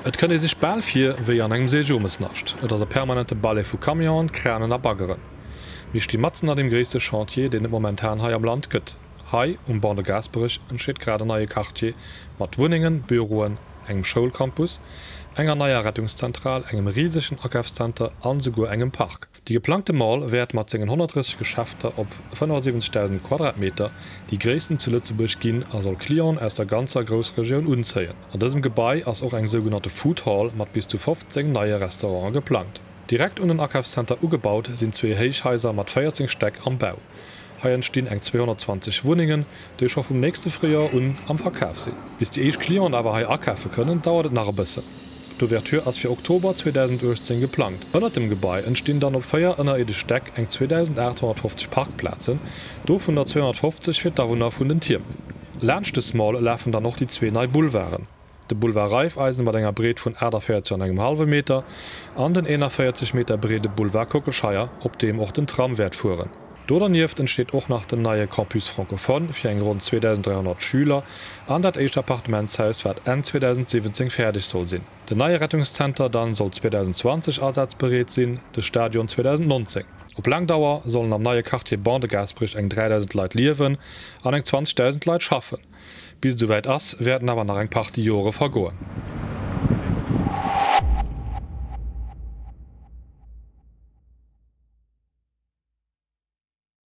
Et kënnt ee sech bal vir wéi an engem Seejomesnascht. Et ass e permanente Ballet vu Camionen, Kranen a Baggeren. Mir sti matzen an deem gréisste Chantier, deen et momentan hei am Land gëtt. Hei, um Banc de Gaasperech, entsteet grad en neie Quartier mat Wunnengen, Büroen, engem Schoulcampus, enger neier Rettungszentral, engem risegen Akafszenter a souguer engem Park. De geplangte Mall wäert mat sengen 130 Geschäfter op 75.000 Quadratmeter déi gréissten zu Lëtzebuerg ginn a soll Clienten aus der ganzer Groussregioun unzéien. An dësem Gebai ass och eng sougenannte Food Hall mat bis zu 15 neie Restaurante geplangt. Direkt un den Akafszenter ugebaut sinn zwee Héichhaiser mat 14 Stäck am Bau. Hei entstinn eng 220 Wunnengen, déi scho vum nächste Fréijoer un am Verkaf sinn. Bis déi éischt Clienten awer hei akafe kënnen, dauert et nach e bëssen. D'Ouverture ass fir Oktober 2018 geplangt. Ënnert dem Gebai entstinn dann op véier ënnerierdesche Stäck eng 2.850 Parkplazen, dovunner 250 fir d'Awunner vun den Tierm. Laanscht de Small lafen dann och déi zwee nei Boulevarden. de Boulevard Raiffeisen mat enger Breet vun 48 an engem hallwe Meter an den 41 Meter breede Boulevard Kockelscheier, op deem och den Tram wäert fueren. Do dernieft entsteet och nach den neie Campus francophone fir eng ronn 2.300 Schüler an dat éischt Appartementshaus, wat Enn 2017 fäerdeg soll sinn. Den neie Rettungszenter dann soll 2020 asazbereet sinn, de Stadion 2019. Op laang Dauer sollen am neie Quartier Ban de Gaasperech eng 3.000 Leit liewen an eng 20.000 Leit schaffen. Bis et souwäit ass, wäerten awer nach eng Partie Jore vergoen.